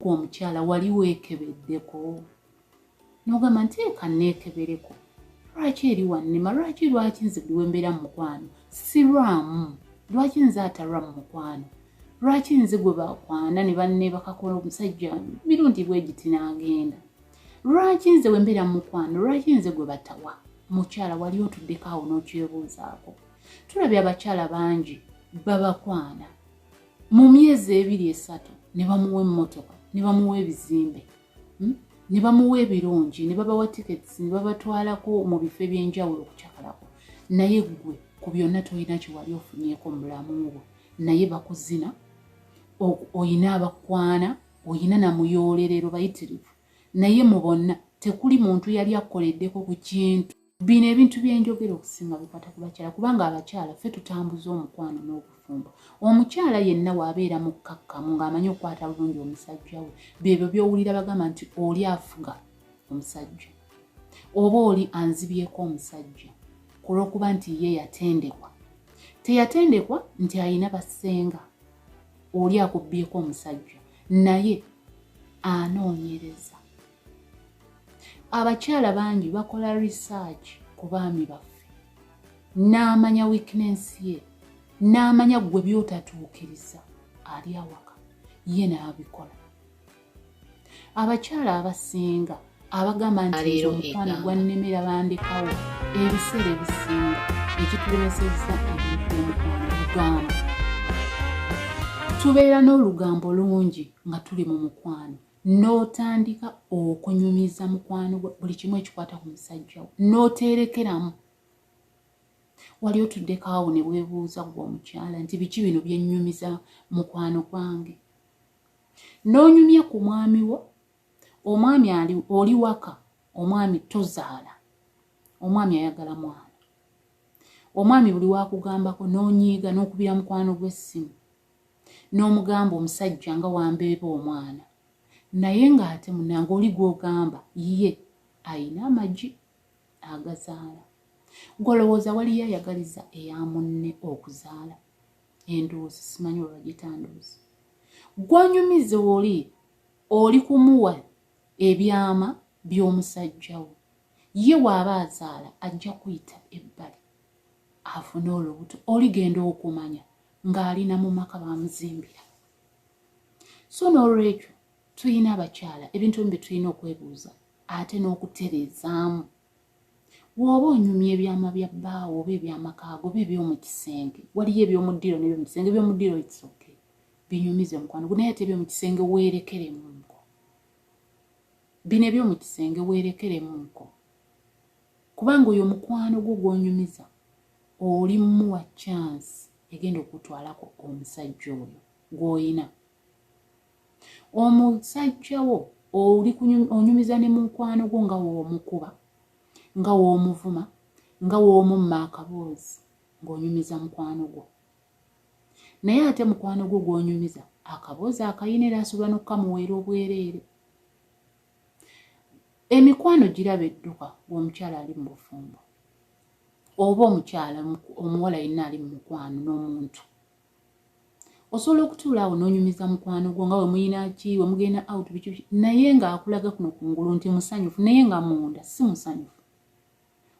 ku omukyala wali weekebeddeko n'ogamba nti eka nneekebereko lwaki eri wannema lwaki lwaki nze buli wembeera mu mukwano sirwamu lwaki nze atalwa mu mukwano lwaki nze gwe bakwana ne banne bakakola omusajja mirundi bwegiti n'agenda lwaki nze wembeera mu mukwano lwaki nze gwe batawa mukyala wali otuddeko awo n'okyebuuzaako tulabye abakyala bangi babakwana mu myezi ebiri esatu ne bamuwa emmotoka ne bamuwa ebizimbe hmm? ne bamuwa ebirungi ne babawa tickets ne babatwalako mu bifo eby'enjawulo okucakalako naye ggwe ku byonna tolina kyewali ofunyeko mu bulamu bwo naye bakuzina oyina abakwana oyina namuyoolerero bayitirivu naye mu bonna tekuli muntu yali akoleddeko ku kintu bino ebintu byenjogera okusinga bikwata ku bakyala kubanga abakyala ffe tutambuza omukwano n'obufumbo omukyala yenna waabeera mu kkakkamu ng'amanyi okukwata bulungi omusajja we byebyo byowulira bagamba nti oli afuga omusajja oba oli anzibyeko omusajja ku lw'okuba nti ye yatendekwa teyatendekwa nti alina basenga oli akubbyeko omusajja naye anoonyereza abakyala bangi bakola research ku baami baffe n'amanya weakness ye n'amanya ggwe by'otatuukiriza ali awaka ye n'abikola abakyala abasinga abagamba nti omukwano gwannemera bandekawo ebiseera ebisinga ekitulemesezza ebintu by'omukwano lugambo tubeera n'olugambo lungi nga tuli mu mukwano n'otandika okunyumiza mukwano gwo buli kimu ekikwata ku musajja wo n'oteerekeramu wali otuddeko awo ne weebuuza gwe omukyala nti biki bino byennyumiza mukwano gwange n'onyumya ku mwami wo omwami ali oli waka omwami tozaala omwami ayagala mwana omwami buli wakugambako n'onyiiga n'okubira mukwano gw'essimu n'omugamba omusajja nga wambeeba omwana naye ng'ate munange oli gw'ogamba ye ayina amagi agazaala gwolowooza waliyo ayagaliza eya munne okuzaala endowoozi simanyi olwagitandoozi gwanyumize oli oli kumuwa ebyama by'omusajja wo ye waaba azaala ajja kuyita ebbali afune olubuto oligenda okumanya ng'ali na mu maka baamuzimbira so n'olwekyo tulina abakyala ebintu ebimu bye tulina okwebuuza ate n'okutereezaamu wooba onyumya ebyama bya bbaawo oba ebyamakaago oba ebyomu kisenge waliyo ebyomu ddiro nebyomu kisenge ebyomu ddiro isoke binyumize omukwano gunaye ate ebyomu kisenge weerekeremu nko bino ebyomu kisenge weerekeremu nko kubanga oyo omukwano gwo gwonyumiza oli muwa chance egenda okutwalako omusajja oyo gw'olina omusajja wo oli onyumiza ne mukwano gwo nga woomukuba nga woomuvuma nga woomumma akaboozi ng'onyumiza mukwano gwo naye ate mukwano gwo gw'onyumiza akaboozi akayina era asobola n'okukamuweera obwereere emikwano giraba edduka gweomukyala ali mu bufumbo oba omukyala omuwala yenna ali mu mukwano n'omuntu osobola okutuula awo n'onyumiza mukwano gwo nga wemuyina ki wemugenda out biki naye ng'akulaga kuno ku ngulu nti musanyufu naye nga munda si musanyufu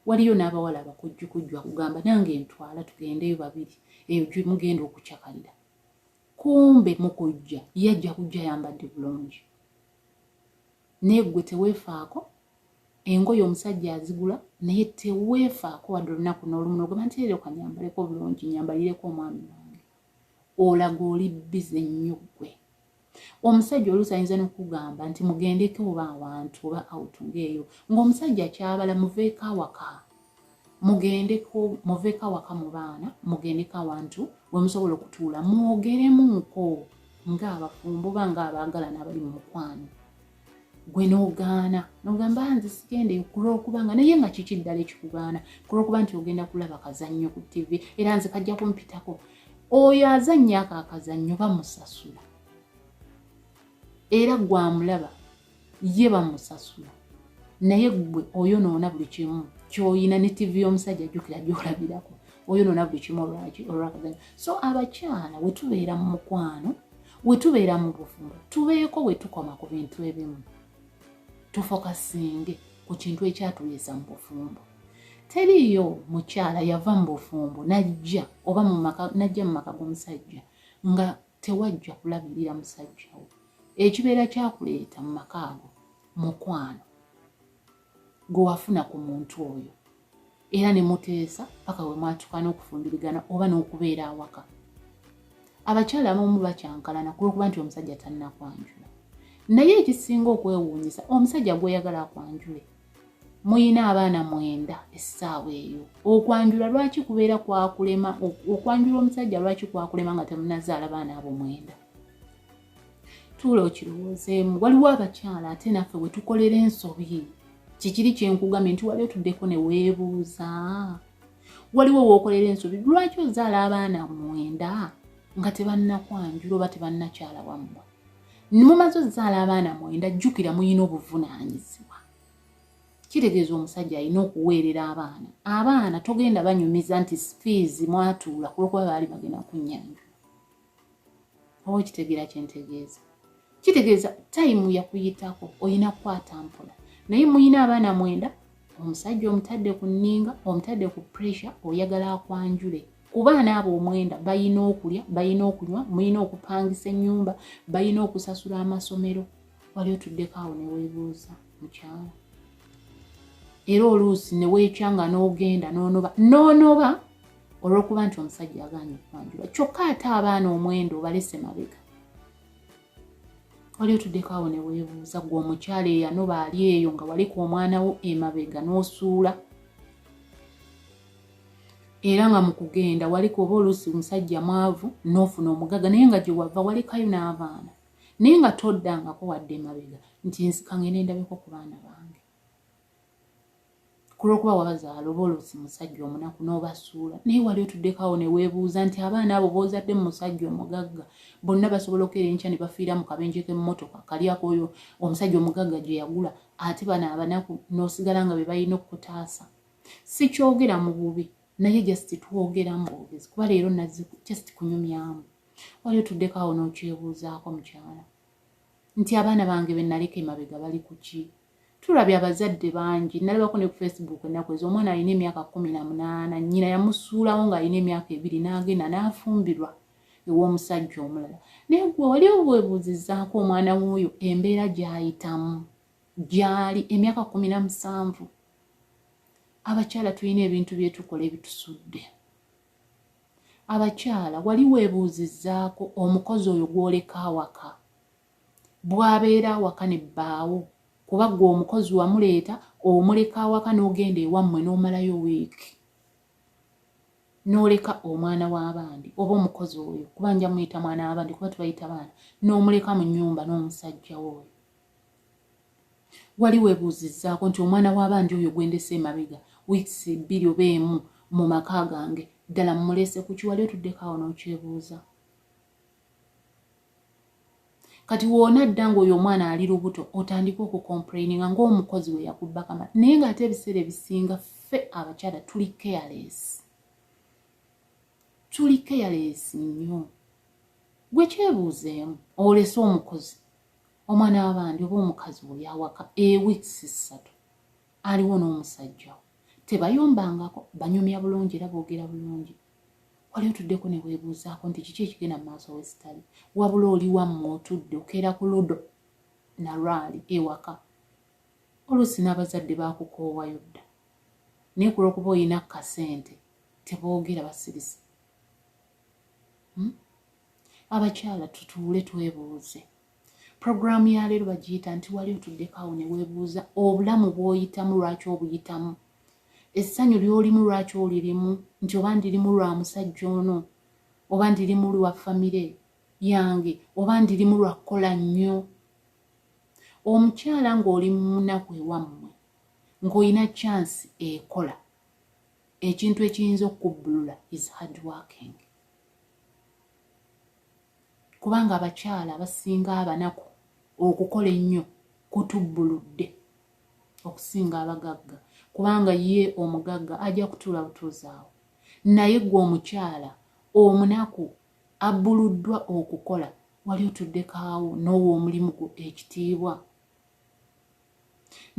waliyo n'abawala abakujjukujju akugamba nange ntwala tugendeyo babiri eyo gyemugenda okucakalira kumbe mukujja ye ajja kujja yambadde bulungi naye gwe teweefaako engoye omusajja azigula naye teweefaako wadde olunaku n'olumu nogamba nti leero kanyambaleko obulungi nyambalireko omwami wange olaga oli bize nnyo ggwe omusajja oluusi ayinza nokugamba nti mugendeko oba awantu oba out ngaeyo ngaomusajja kyabala muveeko awaka mugendeko muveko awaka mu baana mugendeko awantu wemusobola okutuula mwogeremuuko ngaabafumbo oba ngaabaagalana abali mu mukwano gwe nogaana nogamba ah, nze sigende kulwokubanga naye nga kiki ddala ekikugaana kulwokuba nti ogenda kulaba kazannyo ku tivi era nze kajja kumpitako oyo azannyo ako akazannyo bamusasula era gwamulaba ye bamusasula naye gwe oyonoona buli kimu kyoyina ne tivi y'omusajja jjukira gyolabirako oyonoona buli kimu olwaki olwakaganya so abakyala wetubeera mu mukwano wetubeera mu bufumbo tubeeko wetukoma ku bintu ebimu tufokasinge ku kintu ekyatuleesa mu bufumbo teriiyo mukyala yava mu bufumbo najja oba najja mu maka g'omusajja nga tewajja kulabirira musajja wo ekibeera kyakuleeta mu maka ago mukwano gwe wafuna ku muntu oyo era ne muteesa paka we mwatuka n'okufumbirigana oba n'okubeera awaka abakyala abamu bakyankalana ku lwokuba nti omusajja tannakwanjula naye ekisinga okwewuunyisa omusajja gweyagala akwanjule muyina abaana mwenda essaawa eyo okwanjula lwaki kubeera kwakulema okwanjula omusajja lwaki kwakulema nga temunazaala baana abo mwenda tuula okirowoozeemu waliwo abakyala ate naffe wetukolera ensobi kikiri kyenkugambye nti wali otuddeko neweebuuza waliwo wokolera ensobi lwaki ozaala abaana mwenda nga tebannakwanjula oba tebannakyala wammwe nimumaze ozaala abaana mwenda jjukira muyina obuvunaanyizibwa kitegeeza omusajja alina okuweerera abaana abaana togenda banyumiza nti fiizi mwatuula kulwokuba baali bagenda kunyanja oba okitegeera kyentegeeza kitegeeza tayimu yakuyitako olina kukwata mpola naye muyina abaana mwenda omusajja omutadde ku nninga omutadde ku pressure oyagala akwanjule kubaana abo omwenda balina okulya balina okunywa mulina okupangisa ennyumba balina okusasula amasomero wali otuddeko awo newebuuza mukyawa era oluusi neweekya nga n'ogenda nonoba nonoba olwokuba nti omusajja agaanye okwanjula kyokka ate abaana omwenda obalese mabega wali otuddeko awo newebuuza gwe omukyalo eyanoba ali eyo nga waliku omwana wo emabega n'osuula era nga mu kugenda wali kuoba oluusi omusajja mwavu n'ofuna omugagga naye nga gye wava walekayo n'abaana naye nga toddangako wadde emabega nti nsikange nendabeko ku baana bange kulwokuba wabazaala oba oluusi musajja omunaku n'obasuula naye wali otuddekawo ne weebuuza nti abaana abo boozadde mu musajja omugagga bonna basobola okuera enkya ne bafiira mu kabenje k'emmotoka kalyako oyo omusajja omugagga gye yagula ate bano abanaku n'osigala nga be balina okukutaasa sikyogera mu bubi naye just twogeramu bwogezi kuba leero nazi just kunyumyamu wali otuddeko awo n'okyebuuzaako mukyala nti abaana bange be naleka emabega bali ku ki tulabye abazadde bangi nalabako ne ku facebook ennaku ezo omwana alina emyaka kumi na munaana nnyina yamusuulawo ng'alina emyaka ebiri n'agenda n'afumbirwa ew'omusajja omulala naye gwe wali obwebuuzizaako omwana w'oyo embeera gy'ayitamu gyali emyaka kumi na musanvu abakyala tulina ebintu byetukola ebitusudde abakyala wali weebuuzizaako omukozi oyo gwoleka awaka bwabeera awaka ne bbaawo kuba gwe omukozi wamuleeta omuleka awaka n'ogenda ewammwe n'omalayo wiiki n'oleka omwana w'abandi oba omukozi oyo kuba nja muyita mwana w'abandi kuba tubayita baana n'omuleka mu nnyumba n'omusajja wooyo wali webuuzizzaako nti omwana w'abandi oyo gwe ndese emabega weeks bbiri oba emu mu maka gange ddala mumulese kuki wali otuddeko awo n'okyebuuza kati woona dda ng'oyo omwana ali lubuto otandika okukomplaininga ng'omukozi we yakubbakama naye ng'ate ebiseera ebisinga ffe abakyala tuli careless tuli careless nnyo gwe kyebuuzeemu olese omukozi omwana wabandi oba omukazi oli awaka eweeks ssatu aliwo n'omusajja tebayombangako banyumya bulungi era boogera bulungi wali otuddeko ne weebuuzaako nti kiki ekigenda mu maaso wesitali wabula oli wammwe otudde okeera ku ludo nalwali ewaka oluusi n'abazadde baakukoowayo dda naye ku lwokuba olina kasente teboogera basirise hmm? abakyala tutuule twebuuze puroguraamu ya leero bagiyita nti wali otuddeko awo ne weebuuza obulamu bw'oyitamu lwaki obuyitamu essanyu ly'olimu lwaki olirimu nti oba ndirimu lwa musajja ono oba ndirimu lwa famire yange oba ndirimu lwa kukola nnyo omukyala ng'oli mu munaku ewammwe ng'olina chansi ekola ekintu ekiyinza okukubbulula is hard working kubanga abakyala abasinga abanaku okukola ennyo kutubbuludde okusinga abagagga kubanga ye omugagga ajja kutuula butuuzaawo naye gwe omukyala omunaku abbuluddwa okukola wali otuddekaawo n'owa omulimu gwo ekitiibwa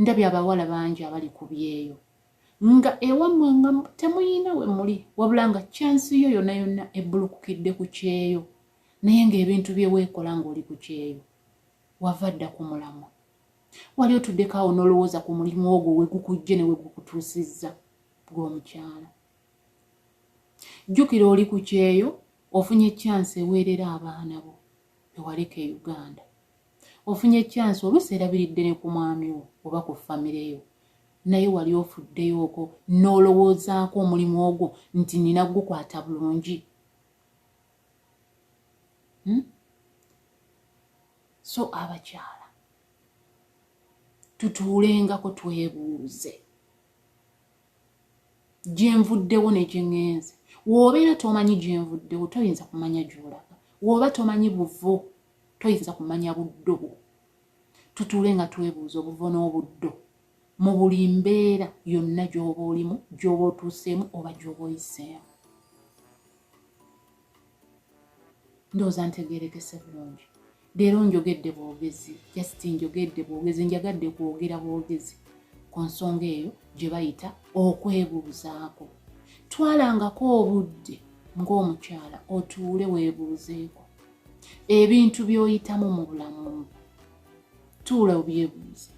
ndabye abawala bangi abali ku byeyo nga ewammwe nga temuyiina we muli wabula nga kyansi yo yonna yonna ebbulukukidde ku kyeyo naye ng'ebintu bye weekola ng'oli ku kyeyo wava dda ku mulamwa wali otuddeko awo n'olowooza ku mulimu ogwo we gukujje ne we gukutuusizza gw'omukyala jjukira oli ku kyeyo ofunye kyansi eweerera abaana bo bewaleka e uganda ofunye kyansi oluusi erabiridde ne ku mwami wo oba ku famire yo naye wali ofuddeyooko n'olowoozaako omulimu ogwo nti nina gukwata bulungi hmm? so abakyala tutuulengako twebuuze gyenvuddewo negyengenze wobeera tomanyi gyenvuddewo toyinza kumanya gyolaga woba tomanyi buvo toyinza kumanya buddo bwo tutuule nga twebuuza obuvo n'obuddo mu buli mbeera yonna gyoba olimu gyoba otuuseemu oba gyoba oyiseemu ndowooza ntegeerekese bulungi leero njogedde bwogezi just njogedde bwogezi njagadde kwogera bwogezi ku nsonga eyo gye bayita okwebuuzaako twalangako obudde ng'omukyala otuule weebuuzeeko ebintu by'oyitamu mu bulamu tuula obyebuuze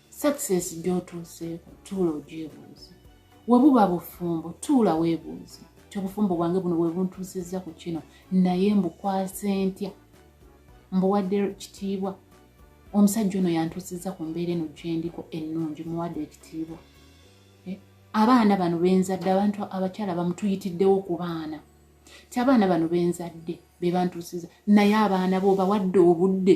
success gyotuuseeko tuula ogyebuuze webuba bufumbo tuula webuuze kyobufumbo bwange buno bwebuntuusizza ku kino naye mbukwase ntya mbuwadde kitiibwa omusajja ono yantuusizza ku mbeera eno gyendiko ennungi muwadde ekitiibwa eh, abaana bano benzadde abantu abakyala bamutuyitiddewo ku baana ti abaana bano benzadde bebantuusiza naye abaana bo bawadde obudde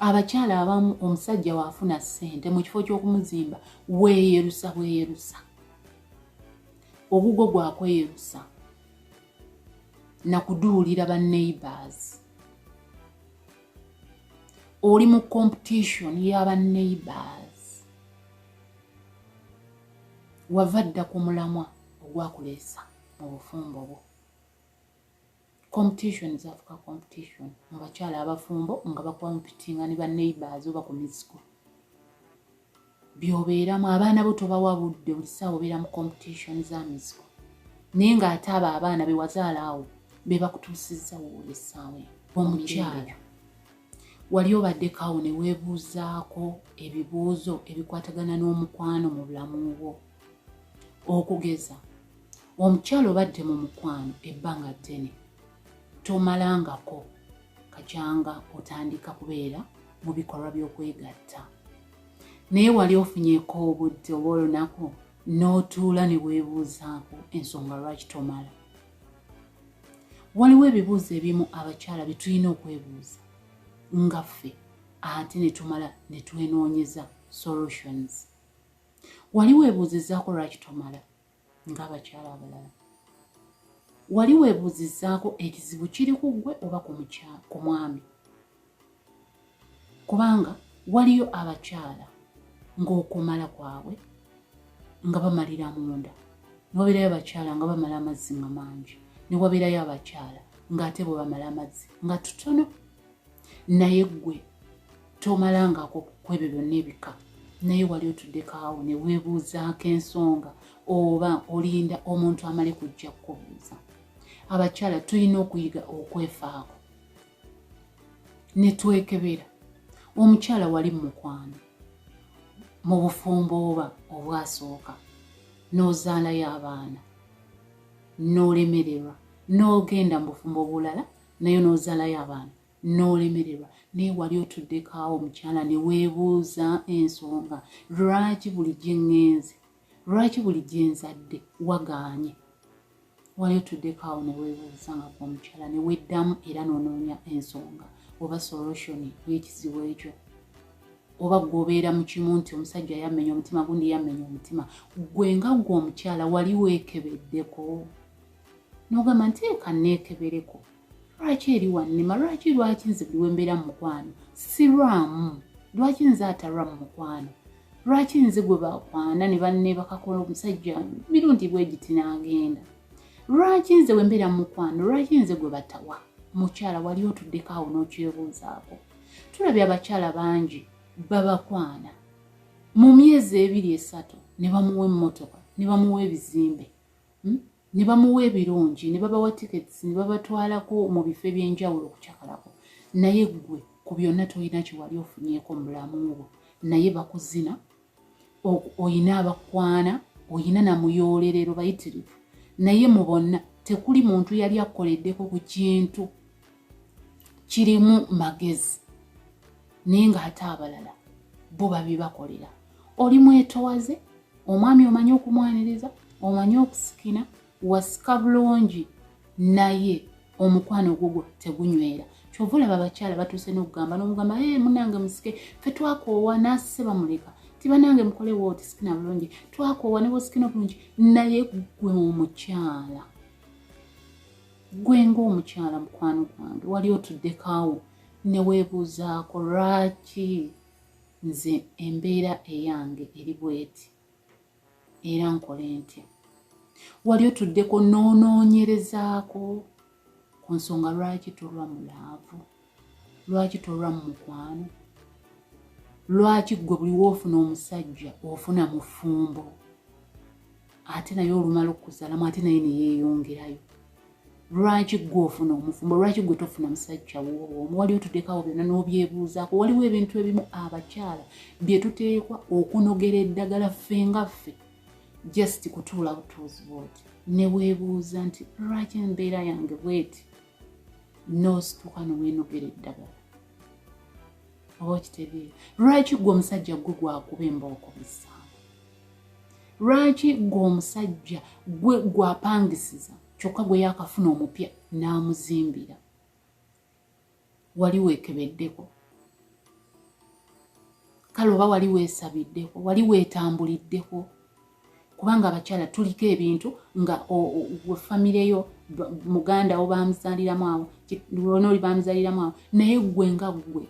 abakyala abamu omusajja waafuna ssente mu kifo ky'okumuzimba weeyerusa bweyerusa ogugwo gwakweyerusa nakuduulira ba neighbors oli mu competition y'aba neighbors wava dda ku mulamwa ogwakuleesa mu bufumbo bwo competition zafuka competition mu bakyala abafumbo nga bakompitinga ne baneighbors oba ku miziko byobeeramu abaana bo tobawa budde buli saawa obeera mu competition za miziko naye ng'ate abo abaana be wazaala awo be bakutuusizza wooli essaawa eno omukyala wali obaddekawo ne weebuuzaako ebibuuzo ebikwatagana n'omukwano mu bulamu bwo okugeza omukyala obadde mu mukwano ebbanga ddene tomalangako kakyanga otandika kubeera mu bikolwa by'okwegatta naye wali ofunyeko obudde oba olunaku n'otuula ne weebuuzaako ensonga lwaki tomala waliwo ebibuuzo ebimu abakyala bye tulina okwebuuza nga ffe ate ne tumala ne twenoonyeza solutions wali weebuuzizaako lwaki tomala ng'abakyala abalala wali weebuuzizzaako ekizibu kiri ku ggwe oba ku mwami kubanga waliyo abakyala ng'okumala kwabwe nga bamalira munda newabeerayo abakyala nga bamala amazzi nga mangi newabeerayo abakyala ng'ate bwe bamala amazzi nga tutono naye gwe tomalangako kwebyo byonna ebika naye wali otuddeko awo ne weebuuzaako ensonga oba olinda omuntu amale kujja kukubuuza abakyala tulina okuyiga okwefaako ne twekebera omukyala wali mu mukwano mu bufumbo oba obwasooka n'ozaalayo abaana n'olemererwa n'ogenda mu bufumbo obulala naye n'ozalayo abaana n'olemererwa naye wali otuddekaawo omukyala ne weebuuza ensonga lwaki buli gye ŋŋenze lwaki buli gye nzadde wagaanye wali otuddekaawo ne weebuuza nga ku omukyala ne weddamu era n'onoonya ensonga oba solution y'ekizibu ekyo oba gweobeera mu kimu nti omusajja yammenya omutima gundi yammenya omutima gwe nga gwe omukyala wali weekebeddeko n'ogamba nti eka neekebereko lwaki eri wannema lwaki lwaki nze buli wembeera mu mukwano sirwamu lwaki nze atalwa mu mukwano lwaki nze gwe bakwana ne banneebakakola omusajja mirundi bwegiti n'agenda lwaki nze wembeera mu mukwano lwaki nze gwe batawa mukyala wali otuddeko awo n'okyebuuzaako tulabye abakyala bangi babakwana mu myezi ebiri esatu ne bamuwa emmotoka ne bamuwa ebizimbe hmm? ne bamuwa ebirungi ne babawa tickets ne babatwalako mu bifo eby'enjawulo okucakalako naye ggwe ku byonna tolina kyewali ofunyeko mubulamu bwo naye bakuzina olina abakwana olina namuyoolerero bayitirivu naye mu bonna tekuli muntu yali akkoleddeko ku kintu kirimu magezi naye ng'ate abalala bo babibakolera oli mwetowaze omwami omanyi okumwaniriza omanyi okusikina wasika bulungi naye omukwano ogugwo tegunywera kyova olaba abakyala batuuse n'okugamba n'omugamba e munange musike fe twakoowa n'asise bamuleka ti banange mukole wooti sikina bulungi twakoowa ne bwosikina obulungi naye gwe omukyala gwe ng'omukyala mukwano gwange wali otuddekaawo ne weebuuzaako lwaki nze embeera eyange eri bweti era nkole ntya wali otuddeko noonoonyerezaako ku nsonga lwaki tolwa mu laavu lwaki tolwa mu mukwano lwaki ggwe buli woofuna omusajja ofuna mufumbo ate naye olumala okuzalamu ate naye neyeyongerayo lwaki gwe ofuna omufumbo lwaki gwe tofuna musajja woowo omuwali otudekawo byonna n'obyebuuzaako waliwo ebintu ebimu abakyala bye tuteekwa okunogera eddagala ffe nga ffe just kutuula butuuzi bwoti neweebuuza nti lwaki embeera yange bweti n'osituka neweenogera eddagala oba okitegeera lwaki gwe omusajja gwe gwakuba embooko bisa lwaki gwe omusajja gwe gwapangisiza kyokka gwe yakafuna omupya n'amuzimbira wali weekebeddeko kale oba wali weesabiddeko wali weetambuliddeko kubanga abakyala tuliko ebintu nga we famire yo muganda wo bamuzaliramu awo lwona oli bamuzaliramu awo naye gwe nga gwe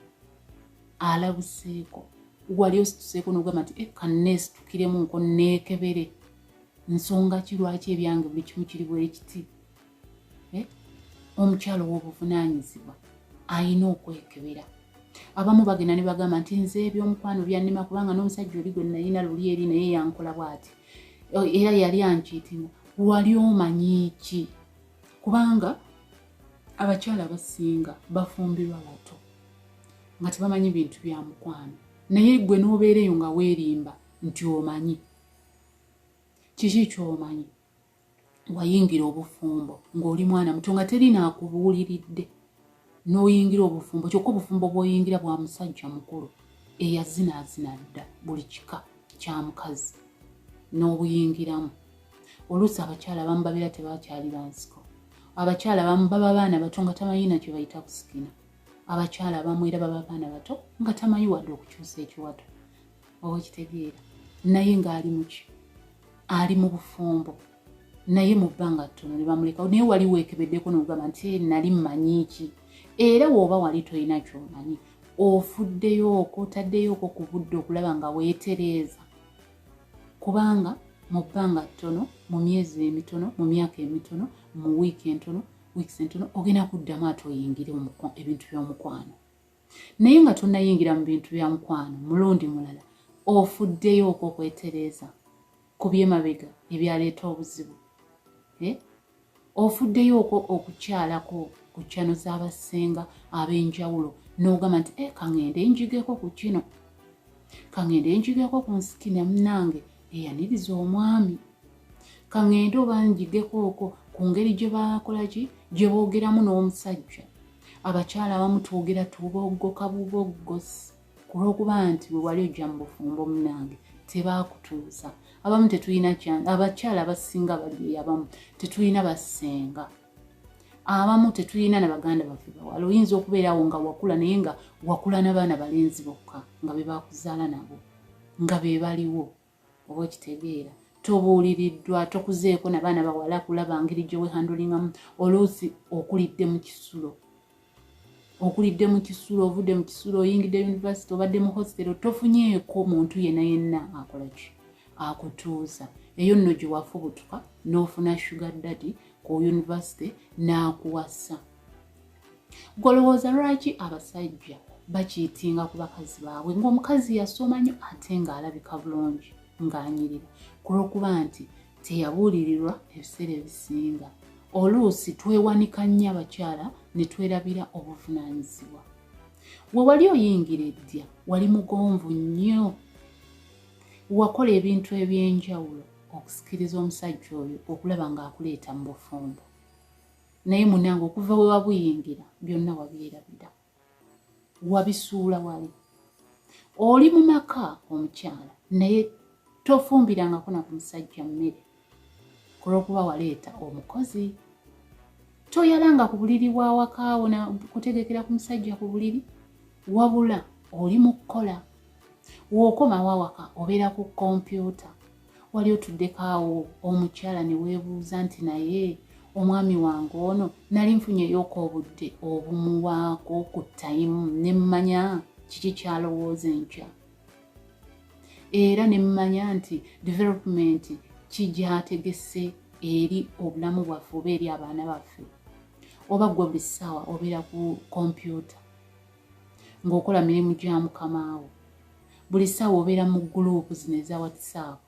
alabuseeko wali osituseeko nogamba nti eka eh, neesitukiremu nko neekebere nsonga ki lwaki ebyange buli kimu kiri bwekiti eh? omukyalo w'obuvunaanyizibwa alina okwekebera abamu bagenda ne bagamba nti nze ebyomukwano byannema kubanga n'omusajja oli gwe nalina luli eri naye yankola bwati oh, era yali ankiitima wali omanyi ki kubanga abakyala abasinga bafumbirwa bato nga tebamanyi bintu bya mukwano naye gwe n'obeera eyo nga weerimba nti omanyi kiki kyomanyi wayingira obufumbo ng'oli mwana muto nga teri naakubuuliridde n'oyingira obufumbo kyokka obufumbo bw'oyingira bwa musajja mukulu eyazinaazina dda buli kika kya mukazi n'obuyingiramu oluusi abakyala abamu babeera tebakyali bansiko abakyala abamu baba baana bato nga tamanyi nakyo bayita kusikina abakyala abamu era baba baana bato nga tamanyi wadde okukyusa ekiwato oba okitegeera naye ng'ali muki ali mu bufumbo naye mu bbanga ttono ne bamulekawo naye wali weekebeddeko nogamba nti eh, nali mmanyi ki era wooba wali tolina kyomanyi ofuddeyooko otaddeyooko ku budde okulaba nga weetereeza kubanga mu bbanga ttono mu myezi emitono mu myaka emitono mu wiiki entono weeks entono ogenda kuddamu ate oyingire ebintu by'omukwano naye nga tonnayingira mu bintu bya mukwano mulundi mulala ofuddeyo okwo okwetereeza ku byemabega ebyaleeta obuzibu eh? ofuddeyo okwo okukyalako ku kyano z'abassenga ab'enjawulo n'ogamba nti e eh, kaŋende njigeko ku kino kaŋende njigeko ku nsikina munange eyaniriza omwami kangende oba njigeko oko ku ngeri gye bakola ki gye boogeramu n'omusajja abakyala abamu twogera tuboggoka buboggosi ku lw'okuba nti bwe wali ojja mu bufumbo munange tebaakutuusa abamu tetulina kyange abakyala abasinga bali abamu tetulina basenga abamu tetulina na baganda baffe bawala oyinza okubeerawo nga wakula naye nga wakula n'abaana balenzi bokka nga be bakuzaala nabo nga be baliwo oba okitegeera tobuuliriddwa tokuzeeko nabaana bawala kulaba ngeri gyewehandulingamu oluusi okulidde mu kisulo okulidde mu kisulo ovudde mu kisulo oyingidde univesity obadde mu hositero tofunyeeko muntu yena yenna akolaki akutuuza eyo nno gye wafubutuka n'ofuna sugar daddy ku univesity n'akuwasa golowooza lwaki abasajja bakiitinga ku bakazi baabwe ng'omukazi yasoma nyo ate ng'alabika bulungi ng'anyirira ku lw'okuba nti teyabuulirirwa ebiseera ebisinga oluusi twewanika nnyo abakyala ne twerabira obuvunaanyizibwa we wali oyingira eddya wali mugonvu nnyo wakola ebintu eby'enjawulo okusikiriza omusajja oyo okulaba ng'akuleeta mu bufumbo naye munange okuva we wabuyingira byonna wabyerabira wabisuula wali oli mu maka omukyala naye tofumbirangako na ku musajja mmere kulwokuba waleeta omukozi toyalanga ku buliri bwawakaawo na kutegekera ku musajja ku buliri wabula oli mu kukola wokomawo awaka obeera ku kompyuta wali otuddeko awo omukyala ne weebuuza nti naye omwami wange ono nali nfunyeyooka obudde obumuwaako ku tayimu ne mmanya kiki kyalowooza enkya era ne mmanya nti development kigyategese eri obulamu bwaffe oba eri abaana baffe oba gwe buli ssaawa obeera ku kompyuta ng'okola mirimu gya mukamaawo buli ssaawa obeera mu guluupu zino eza whatsapp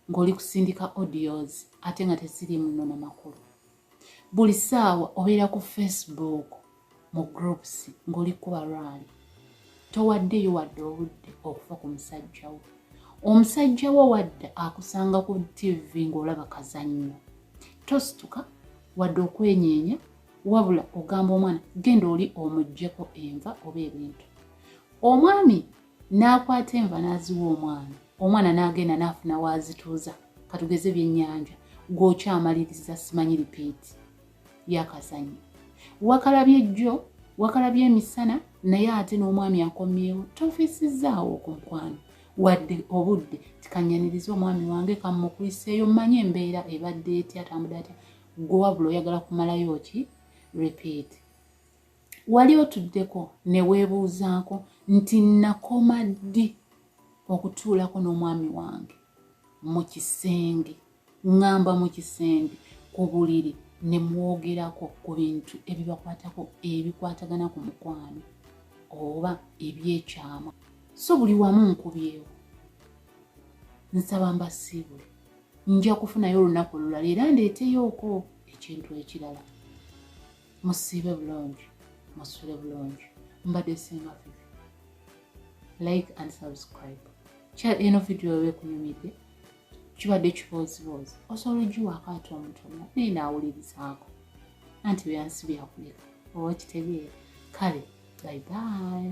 ng'oli kusindika audios ate nga teziri muno na makulu buli ssaawa obeera ku facebook mu groups ng'oli kuba lwali towaddeyo wadde obudde okufa ku musajja wo omusajja wo wadde akusanga ku tv ng'olaba kazannyo tosituka wadde okwenyeenya wabula ogamba omwana genda oli omugyeko enva oba ebintu omwami n'akwata enva n'aziwa omwana omwana n'agenda n'afuna waazituuza katugeze byennyanja gw'okyamaliriza simanyi lipiiti yakazanyo wakalabye jjo wakalabye emisana naye ate n'omwami akomyewo tofiisizzaawo okunkwano wadde obudde tikanyaniriza omwami wange kammukuliseeyo mmanyi embeera ebadde etya atambudde atya gwe wabula oyagala kumalayo ki repeat wali otuddeko ne weebuuzaako nti nakoma ddi okutuulako n'omwami wange mu kisenge ŋŋamba mu kisenge ku buliri ne mwogerako ku bintu ebibakwatako ebikwatagana ku mukwano oba ebyekyama so buli wamu nkubyewo nsaba mbasiibule nja kufunayo olunaku olulala era ndeeteyooko ekintu ekirala musiibe bulungi musule bulungi mbadde singa fifi like and subscribe kya eno vidiyo oba ekunyumidde kibadde kibooziboozi osobola ogiwaako ate omutono naye naawulirizaako anti byansi byakuleka oba kitegeera kale bye bye